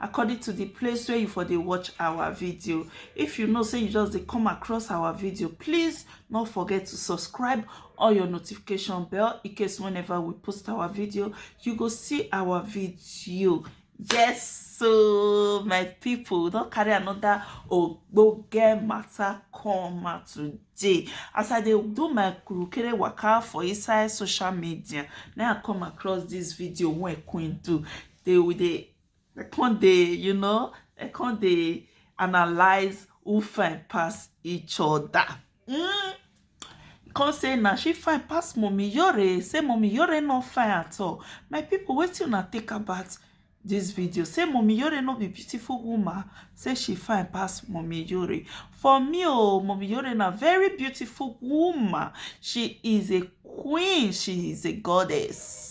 according to the place where you for dey watch our video if you know say you just dey come across our video please not forget to subscribe or your notification bell in case whenever we post our video you go see our video yes so my people don't carry another oh go get matter come out today as i dey do my kurukere waka for inside social media now i come across this video when queen do they will they they can't they you know they can't they analyze who fine pass each other mm. come say now she fine pass mommy yore say mommy yore not fine at all my people what you not think about this video say mommy yore not be beautiful woman say she fine pass mommy yore for me oh mommy yore na very beautiful woman she is a queen she is a goddess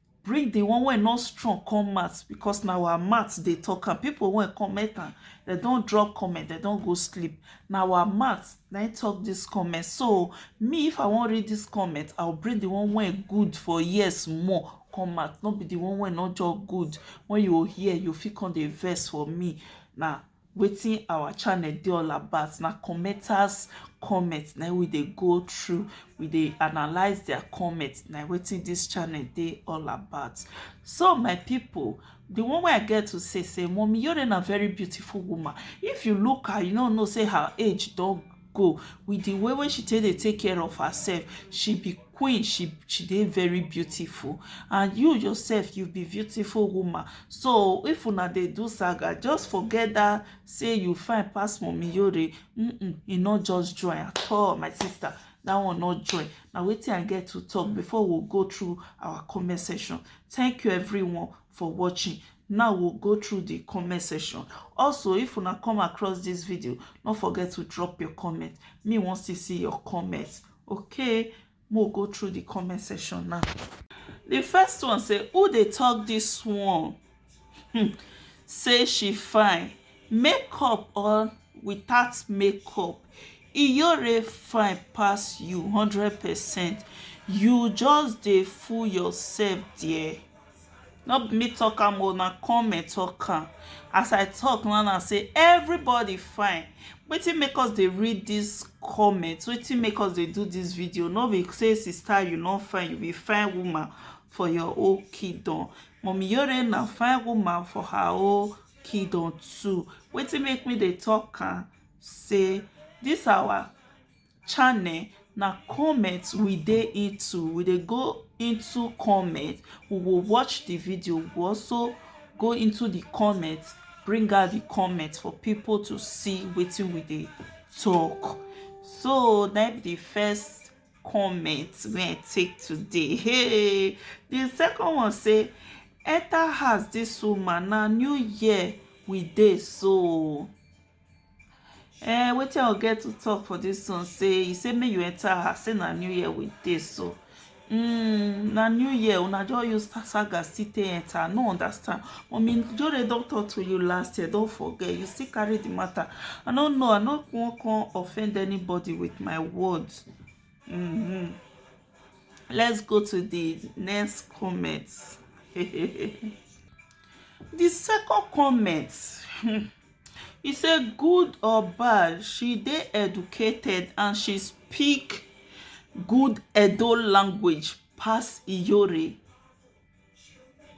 bring the one wey no strong come mat because na our mat dey talk am people wey comment am they don drop comment they don go sleep na our mat na talk this comment so me if i wan read this comment i will bring the one wey good for years more come out no be the one wey no just good when you hear you fit come dey vex for me na wetin our channel dey all about na commenters comment na we dey go through we dey analyze their comment na wetin this channel dey all about so my people the one way i get to say say mommy yore na very beautiful woman if you look her you no know say her age don go with the way wey she take dey take care of herself she be queen she she dey very beautiful and you yourself you be beautiful woman so if una dey do saga just forget that say you fine pass mommy yore mm -mm, e no just join at all my sister that one no join na wetin i get to talk before we go through our comment section thank you everyone for watching now we'll go through the comment section also if you not come across this video don't forget to drop your comment me wants to see your comments okay we'll go through the comment section now the first one say who they talk this one hmm. say she fine makeup or without makeup iyore fine pass you hundred percent you just dey fool yourself there No be me talk am o na comment talk am as I talk now now say everybody fine wetin make us dey read this comment wetin make us dey do this video no be say sister you no fine you be fine woman for your own kingdom mummy yore na fine woman for her own kingdom too wetin make me dey talk am say this our channel na comment we dey into we dey go into comment we go watch the video we go also go into the comment bring out the comment for people to see wetin we dey talk so na be the first comment wey i take today hey the second one say enter house this woman na new year we dey so Eh, wetin I get to talk for this one say he say make you enter her say na new year we dey so mm, na new year una just use saga still take enter no understand mommy jore don talk to you last year don forget you still carry the matter i no know i no wan come offend anybody with my words mm -hmm. let's go to the next comment the second comment hmm, He say good or bad she dey educated and she speak good Edo language pass Iyore.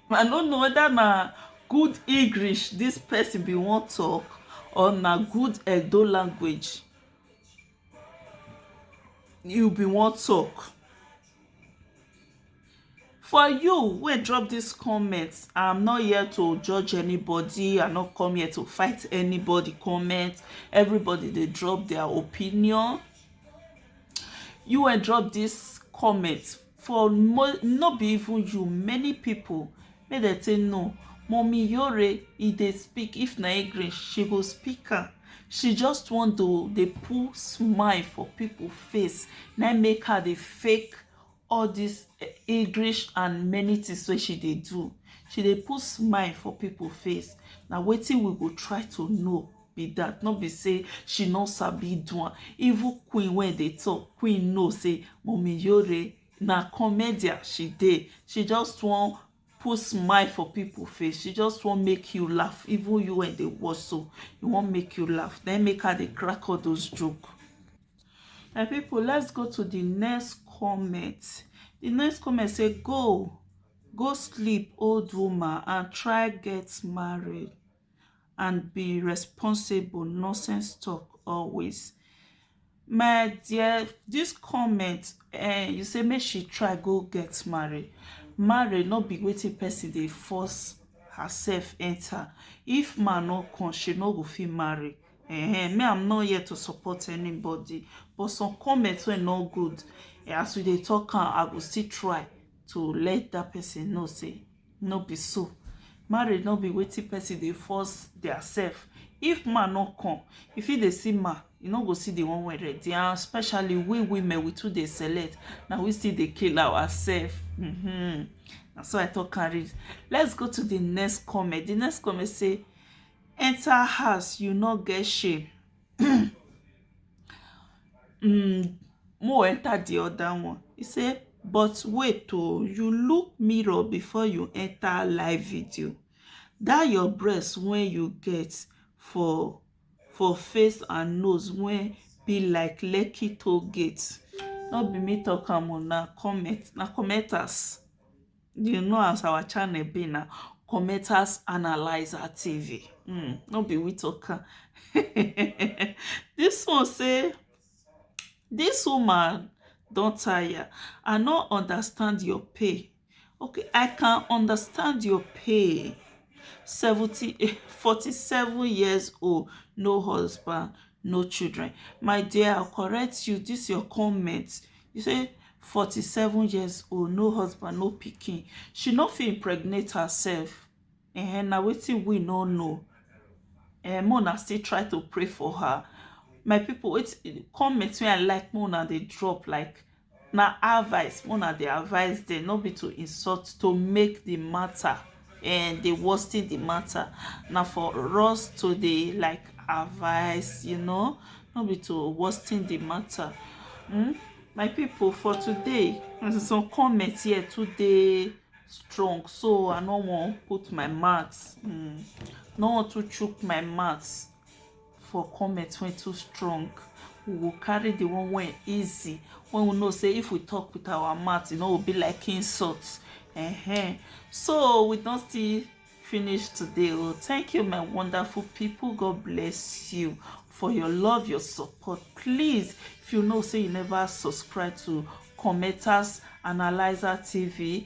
I no know whether na good English this person bin wan talk or na good Edo language. you bin wan talk for you wey drop this comment i'm not here to judge anybody i'm not come here to fight anybody comment everybody dey drop their opinion you wey drop this comment for no be even you many people make dem say no mommy yore e dey speak if na english she go speak am she just want to dey put smile for people face na make her dey fake all this eh, english and many things wey she dey do she dey put smile for people face na wetin we go try to know be that no be say she no sabi do am even queen wey dey talk queen know say mommy yore na comedian she dey she just wan put smile for people face she just wan make you laugh even you wey dey watch so you wan make you laugh then make her dey crack all those joke my people let's go to the next comment the next comment say go go sleep old woman and try get married and be responsible nonsense talk always my dear this comment eh you say make she try go get married married not be waiting person they force herself enter if man no come she no go fit marry eh me i'm not here to support anybody but some comments were no good eh, as we dey talk am i go still try to let that person know say no be so marriage no be wetin person dey force their self if man no come if he dey see man you no go see the one wey ready and especially we women we too dey select na we still dey kill ourselves mm -hmm. na so i talk am reach let's go to the next comment the next comment say enter house you no get shame um um mo enter the other one he say but wait o you look mirror before you enter live video that your breast wey you get for for face and nose wey be like lekki toll gate no be me talk am o na comment na commenters you know as our channel be na commenters analyzer tv mm, no be we talker this one say this woman don tire i no understand your pay okay i can understand your pay 70 47 years old no husband no children my dear i correct you this your comment you say 47 years old no husband no pikin she no fit impregnate herself eh na wetin we no know eh make una still try to pray for her my people wetin comment wey i like make una dey drop like na advice make una dey advice dem no be to insult to make the matter um dey worsen the matter na for us to dey like advice you know no be to worsen the matter hmm my people for today some comment here too dey strong so i no wan put my mouth hmm no wan too chook my mouth for comment wey too strong we go carry the one wey easy when we know say if we talk with our mouth e no go be like insult uh -huh. so we don still finish today oh thank you my wonderful people god bless you for your love your support please if you know say you never subscribe to commenters analyzer tv